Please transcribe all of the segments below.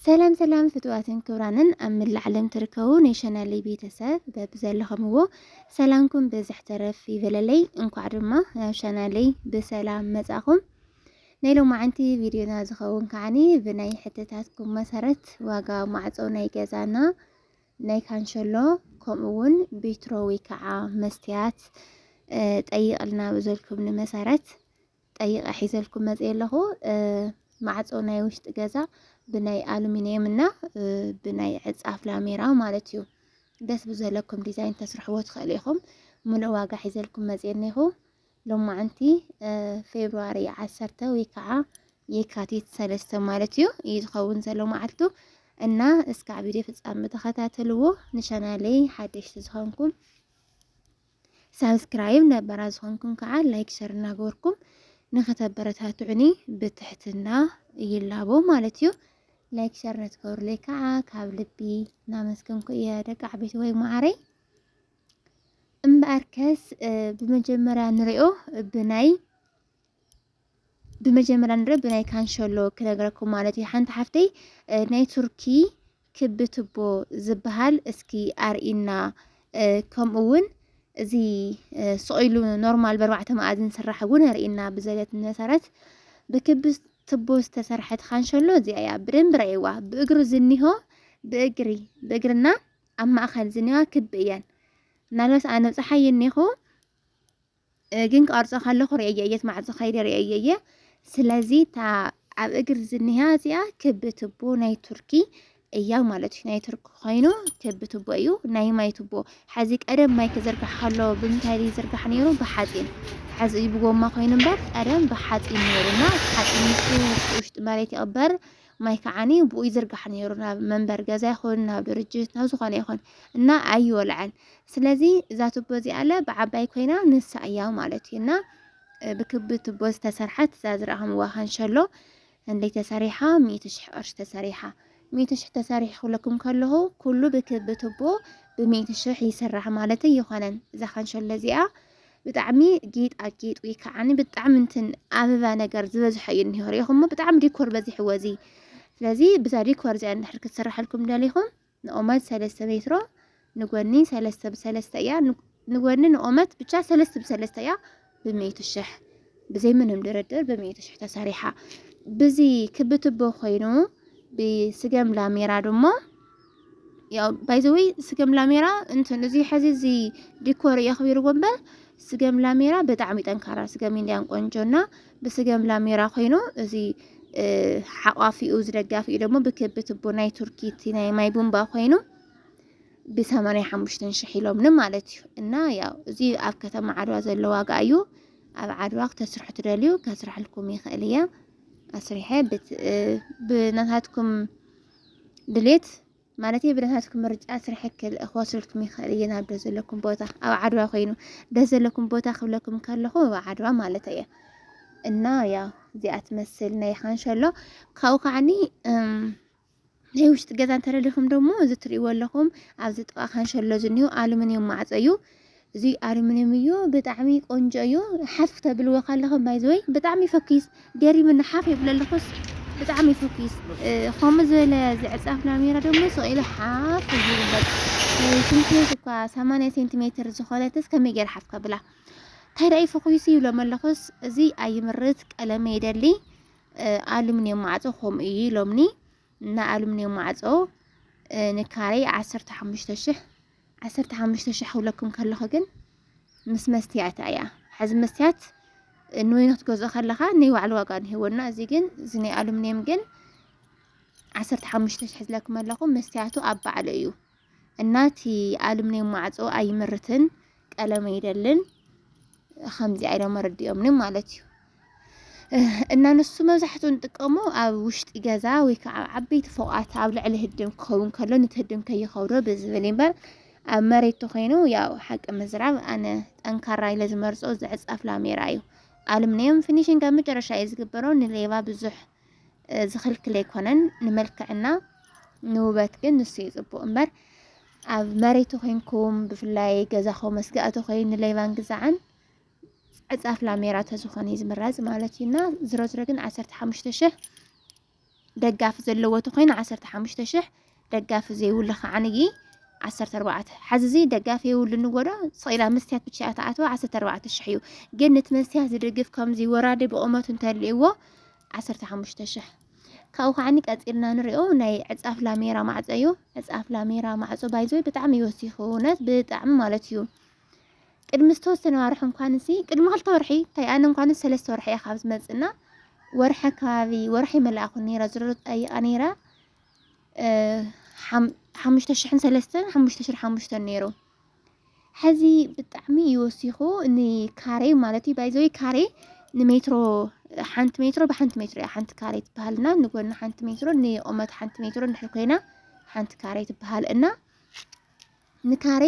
ሰላም ሰላም ፍትዋትን ክብራንን ኣብ ምላዕ ዓለም ትርከቡ ናይ ሸናለይ ቤተሰብ በብዘለኸምዎ ሰላምኩም ብዝሕ ተረፍ ይበለለይ። እንኳዕ ድማ ናብ ሸናለይ ብሰላም መጻኹም። ናይ ሎማዓንቲ ቪድዮና ዝኸውን ከዓኒ ብናይ ሕተታትኩም መሰረት ዋጋ ማዕጾ ናይ ገዛና ናይ ካንሸሎ ከምኡ እውን ቤትሮ ወይ ከዓ መስትያት ጠይቕልና ብዘልኩምኒ መሰረት ጠይቀ ሒዘልኩም መፅየ ኣለኹ ማዕፆ ናይ ውሽጢ ገዛ ብናይ ኣሉሚኒየም እና ብናይ ዕፃፍ ላሜራ ማለት እዩ ደስ ብዘለኩም ዲዛይን ተስርሕዎ ትኽእሉ ኢኹም ሙሉእ ዋጋ ሒዘልኩም መፅየ እኒኹ ሎማዓንቲ ፌብርዋሪ ዓሰርተ ወይ ከዓ የካቲት ሰለስተ ማለት እዩ እዩ ዝኸውን ዘሎ መዓልቱ እና እስካዕ ቪድዮ ፍፃሚ ተኸታተልዎ ንቻናለይ ሓደሽቲ ዝኾንኩም ሳብስክራይብ ነባራት ዝኾንኩም ከዓ ላይክ ሸር እናገበርኩም ንኸተበረታትዑኒ ብትሕትና ይላቦ ማለት እዩ። ላይክ ሸር ነትገብሩለይ ከዓ ካብ ልቢ እናመስገንኩ እየ ደቂ ዓበይቲ ወይ ማዓረይ። እምበኣርከስ ብመጀመርያ ንሪኦ ብናይ ብመጀመርያ ንረ ብናይ ካንሸሎ ክነግረኩም ማለት እዩ ሓንቲ ሓፍተይ ናይ ቱርኪ ክቢ ትቦ ዝበሃል እስኪ ኣርኢና ከምኡ እውን እዚ ስቑኢሉ ኖርማል በርባዕተ መኣዝን ስራሕ እውን ኣርኢና ብዘለት መሰረት ብክቢ ትቦ ዝተሰርሐት ካንሸሎ እዚኣ እያ ብደንብ ረእይዋ ብእግሪ ዝኒሆ ብእግሪ ብእግርና ኣብ ማእኸል ዝኒዋ ክቢ እየን ናልባስ ኣነ ብፅሓ የኒኹ ግን ክቐርጾ ከለኹ ርእየ እየ ማዕጾ ከይደ ርእየ እየ ስለዚ እታ ኣብ እግር ዝኒሃ እዚኣ ክብ ትቦ ናይ ቱርኪ እያ ማለት እዩ ናይ ቱርኪ ኮይኑ ክብ ትቦ እዩ ናይ ማይ ትቦ ሓዚ ቀደም ማይ ክዝርጋሕ ከሎ ብምንታይ ይዝርጋሕ ነይሩ ብሓፂን ሓዚ ብጎማ ኮይኑ እምበር ቀደም ብሓፂን ነይሩና ሓፂን ውሽጢ መሬት ይቕበር ማይ ከዓኒ ብኡ ይዝርጋሕ ነይሩ ናብ መንበሪ ገዛ ይኹን ናብ ድርጅት ናብ ዝኾነ ይኹን እና ኣይወልዐን። ስለዚ እዛ ቱቦ እዚኣለ ብዓባይ ኮይና ንሳ እያ ማለት እዩ እና ብክቢ ቱቦ ዝተሰርሐት እዛ ዝረኣኹምዋ ካንሸሎ እንደይ ተሰሪሓ ሚእቲ ሽሕ ቅርሺ ተሰሪሓ ሚእቲ ሽሕ ተሰሪሕ ክብለኩም ከለኹ ኩሉ ብክቢ ቱቦ ብሚእቲ ሽሕ ይስራሕ ማለት ኣይኮነን። እዛ ካንሸሎ እዚኣ ብጣዕሚ ጌጣጌጥ ወይ ከዓኒ ብጣዕሚ እንትን ኣበባ ነገር ዝበዝሖ እዩ እኒሆ ሪኢኹሞ ብጣዕሚ ዲኮር በዚሕዎ እዚ ስለዚ ብዛ ዲኮር እዚኣ እንድሕር ክትስራሓልኩም ደሊኹም ንኦመት ሰለስተ ሜትሮ ንጎኒ ሰለስተ ብሰለስተ እያ ንጎኒ ንኦመት ብቻ ሰለስተ ብሰለስተ እያ ብሚእቲ ሽሕ ብዘይ ምንም ድርድር ብሚእቲ ሽሕ ተሰሪሓ ብዚ ክቢ ትቦ ኮይኑ ብስገም ላሜራ ድሞ ያው ባይ ዘ ወይ ስገም ላሜራ እንትን እዚ ሕዚ እዚ ዲኮር የኽቢርዎ እምበር ስገም ላሜራ ብጣዕሚ ጠንካራ ስገም ኢንዲያን ቆንጆ እና ብስገም ላሜራ ኮይኑ እዚ ሓቋፊኡ እዚ ደጋፊኡ ደግሞ ብክቢ ትቦ ናይ ቱርኪ እቲ ናይ ማይ ቡምባ ኮይኑ ብሰማንያ ሓሙሽተን ሽሕ ኢሎምኒ ማለት እዩ እና ያው እዚ ኣብ ከተማ ዓድዋ ዘሎ ዋጋ እዩ ኣብ ዓድዋ ክተስርሑ ትደልዩ ከስርሐልኩም ይኽእል እየ ኣስሪሐ ብናታትኩም ድሌት ማለት ብናታትኩም ምርጫ ስራሕ ክል ክወስደልኩም ይኽእል እየ ናብ ደስ ዘለኩም ቦታ ኣብ ዓድዋ ኮይኑ ደስ ዘለኩም ቦታ ክብለኩም ከለኹ ኣብ ዓድዋ ማለት እየ እና ያ እዚኣ ትመስል ናይ ሓንሸሎ ካብኡ ከዓኒ ናይ ውሽጢ ገዛ እንተደሊኹም ደግሞ እዚ ትሪእዎ ኣለኹም ኣብዚ ጥቓ ካንሸሎ ዝኒሁ ኣሉሚንየም ማዕፆ እዩ እዚ ኣርምንየም እዩ ብጣዕሚ ቆንጆ እዩ ሓፍ ተብልዎ ካለኹም ባይ ዘ ወይ ብጣዕሚ ፈኪስ ገሪምኒ ሓፍ የብለልኹስ ብጣዕሚ ፈኪስ ከምኡ ዝበለ ዝዕጻፍ ናሜራ ደሞ ስቂለ ሓፍ ዝብል ሽንትቤት እኳ 80 ሴንቲሜትር ዝኾነትስ ከመይ ገይረ ሓፍ ከብላ እንታይ ደኣ ፈኺሱ ይብሎም ኣለኹስ እዚ ኣይምርት ቀለመ ይደሊ ኣሉሚንየም ማዕጾ ከምኡ እዩ ኢሎምኒ እና ኣሉሚንየም ማዕጾ ንካሬ 15000 ዓሰርተ ሓሙሽተ ሽሕ ክብለኩም ከለኹ ግን ምስ መስትያት ኣያ ሓዚ መስትያት ንወይኒ ክትገዝኦ ከለኻ ናይ ባዕሉ ዋጋ ንሂወና እዚ ግን እዚ ናይ ኣሉሚንየም ግን ዓሰርተ ሓሙሽተ ሽሕ ዝለኩም ኣለኹ መስትያቱ ኣብ ባዕሉ እዩ እና እቲ ኣሉሚንየም ማዕፆ ኣይምርትን ቀለም ኣይደልን ከምዚ ኢሎም ኣረዲኦምኒ ማለት እዩ እና ንሱ መብዛሕትኡ ንጥቀሞ ኣብ ውሽጢ ገዛ ወይ ከዓ ኣብ ዓበይቲ ፎቃት ኣብ ልዕሊ ህድም ክኸውን ከሎ ነቲ ህድም ከይኸብዶ ብዝብል እምበር ኣብ መሬት ተኮይኑ ያው ሓቂ ምዝራብ ኣነ ጠንካራ ኢለ ዝመርፆ ዝዕፃፍ ላሜራ እዩ። ኣሉሚንየም ፊኒሽንግ ኣብ መጨረሻ እዩ ዝግበሮ ንሌባ ብዙሕ ዝኽልክል ኣይኮነን ንመልክዕና ንውበት ግን ንሱ እዩ ፅቡቅ እምበር ኣብ መሬት ተኮይንኩም ብፍላይ ገዛኹም መስጋእቲ ኮይኑ ንሌባን ግዛዕን ዕፃፍ ላሜራ ተዝኾነ እዩ ዝምረፅ ማለት እዩ እና ዝሮ ዝሮ ግን ዓሰርተ ሓሙሽተ ሽሕ ደጋፊ ዘለዎ ተኮይኑ ዓሰርተ ሓሙሽተ ሽሕ ደጋፊ ዘይብሉ ከዓ ንይ ዓሰርተ ኣርባዕተ ሓዚ እዚ ደጋፊ የብሉ ንጎዶ ስቂላ መስትያት ብቻ እያ ትኣትዎ ዓሰርተ ኣርባዕተ ሽሕ እዩ ግን ነቲ መስትያት ዝድግፍ ከምዚ ወራዲ ብቑመቱ እንተልእዎ ዓሰርተ ሓሙሽተ ሽሕ ካብኡ ከዓኒ ቀፂልና ንሪኦ ናይ ዕፃፍ ላሜራ ማዕፆ እዩ ዕፃፍ ላሜራ ማዕፆ ባይዞ ብጣዕሚ ይወሲኹ እውነት ብጣዕሚ ማለት እዩ ቅድሚ ዝተወሰነ ዋርሒ እንኳንሲ ቅድሚ ክልተ ወርሒ እንታይ ኣነ እንኳንስ ሰለስተ ወርሒ እየ ካብ ዝመፅእና ወርሒ ከባቢ ወርሒ መላእኹ ነይራ ዝሮ ጠይቃ ነይራ ሓሙሽተ ሽሕን ሰለስተን ሓሙሽተ ሽር ሓሙሽተን ነይሩ ሕዚ ብጣዕሚ እዩ ወሲኹ ንካሬ ማለት እዩ ባይዘወይ ካሬ ንሜትሮ ሓንቲ ሜትሮ ብሓንቲ ሜትሮ እያ ሓንቲ ካሬ ትበሃል እና ንጎኒ ሓንቲ ሜትሮ ንቁመት ሓንቲ ሜትሮ እንድሕር ኮይና ሓንቲ ካሬ ትበሃል እና ንካሬ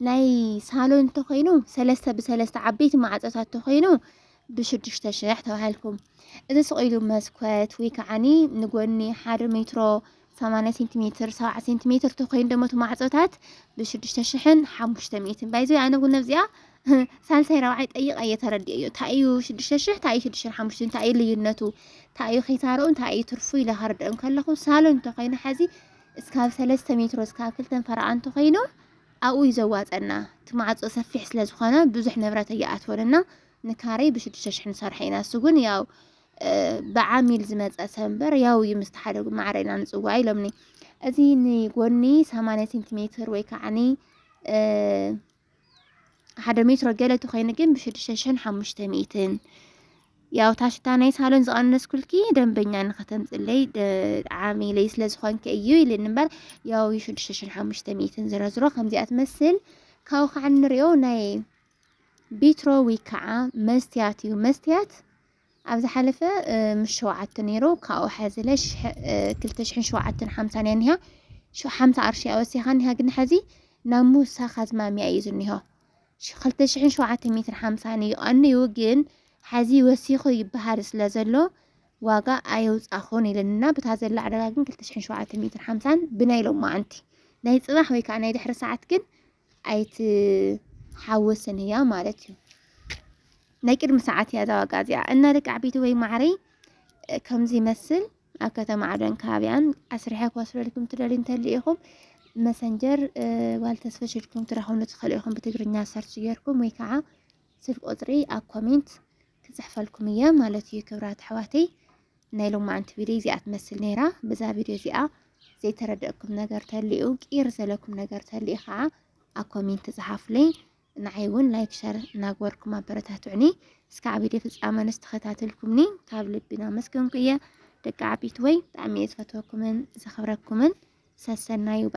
ናይ ሳሎን እንተኾይኑ ሰለስተ ብሰለስተ ዓበይቲ ማዕፆታት እንተኾይኑ ብሽዱሽተ ሽሕ ተባሂልኩም እዚ ስቕኢሉ መስኮት ወይ ከዓኒ ንጎኒ ሓደ ሜትሮ ሰማንያ ሴንቲሜትር ሰብዓ ሴንቲሜትር ተኮይኑ ደሞ እቲ ማዕፆታት ብሽዱሽተ ሽሕን ሓሙሽተ ሚእትን ባይዘ ኣነ እውን ኣብዚኣ ሳልሳይ ረብዓይ ጠይቀ እየ ተረዲኦ እዮ እንታይ እዩ ሽዱሽተ ሽሕ እንታይ እዩ ሽዱሽተ ሓሙሽተ እንታይ እዩ ልዩነቱ እንታይ እዩ ኪሳርኡ እንታይ እዩ ትርፉ ኢለ ከርድኦም ከለኹ ሳሎን እንተኮይኑ ሓዚ እስካብ ሰለስተ ሜትሮ እስካብ ክልተ ፈረቃ እንተኮይኑ ኣብኡ እዩ ዘዋፀና እቲ ማዕፆ ሰፊሕ ስለ ዝኾነ ብዙሕ ንብረት ኣይኣትወንና ንካሬ ብሽዱሽተ ሽሕ ንሰርሖ ኢና እሱ ግን ያው ብዓሚል ዝመፀ ሰንበር ያው እዩ ምስቲ ሓደ ማዕረ ኢና ንፅዋ ኢሎምኒ እዚ ንጎኒ 80 ሴንቲሜትር ወይ ከዓኒ ሓደ ሜትሮ ገለ ተኮይኑ ግን ብሽዱሽተ ሽሕን ሓሙሽተ ሚእትን ያው ታሽታ ናይ ሳሎን ዝቐነስኩልኪ ደንበኛ ንኸተምፅለይ ዓሚለይ ስለ ዝኾንኪ እዩ ኢልን እምበር ያው ሽዱሽተ ሽሕን ሓሙሽተ ሚእትን ዝረዝሮ ከምዚኣ ትመስል ካብኡ ከዓ ንሪኦ ናይ ቢትሮ ወይ ከዓ መስትያት እዩ መስትያት ኣብ ዝሓለፈ ምስ ሸውዓተ ነይሩ ካብኡ ሓዚለ ክልተ ሽሕን ሸውዓተን ሓምሳን እያ እኒሃ ሓምሳ ኣርሺ እያ ወሲኻ እኒሃ ግን ሓዚ ናብ ምውሳኽ ኣዝማሚያ እዩ ዝኒሆ ክልተ ሽሕን ሸውዓተ ሚእትን ሓምሳን እዩ ቀንዩ ግን ሓዚ ወሲኹ ይበሃል ስለ ዘሎ ዋጋ ኣየውፃኹን ኢለንና ብታ ዘላ ዕዳጋ ግን ክልተ ሽሕን ሸውዓተ ሚእትን ሓምሳን ብናይ ሎማዓንቲ ናይ ፅባሕ ወይ ከዓ ናይ ድሕሪ ሰዓት ግን ኣይትሓወስን እያ ማለት እዩ። ናይ ቅድሚ ሰዓት እያ እዛ ዋጋ እዚኣ እና ደቂ ዓበይቲ ወይ ማዕረይ ከምዚ ይመስል ኣብ ከተማ ዓደን ከባቢያን ኣስርሐ ክወስደልኩም ትደልዩ እንተሉ ኢኹም መሰንጀር ጓል ተስፈሽ ኢልኩም ትረኽብሉ ትኽእሉ ኢኹም ብትግርኛ ሰርች ጌርኩም ወይ ከዓ ስልክ ቁፅሪ ኣብ ኮሜንት ክፅሕፈልኩም እየ ማለት እዩ ክብራት ኣሕዋተይ ናይ ሎማዓንቲ ቪድዮ እዚኣ ትመስል ነይራ። ብዛ ቪድዮ እዚኣ ዘይተረደእኩም ነገር ተልኡ ቂር ዘለኩም ነገር ተልኡ ከዓ ኣብ ኮሜንት ፀሓፉለይ። ንዓይ እውን ላይክ ሸር እናግበርኩም ኣበረታትዑኒ። እስካዕ ቪድዮ ፍፃመ ንስተኸታተልኩምኒ ካብ ልቢ እናመስገንኩ እየ። ደቂ ዓቢት ወይ ብጣዕሚ እየ ዝፈትወኩምን ዘኽብረኩምን ሰሰናዩ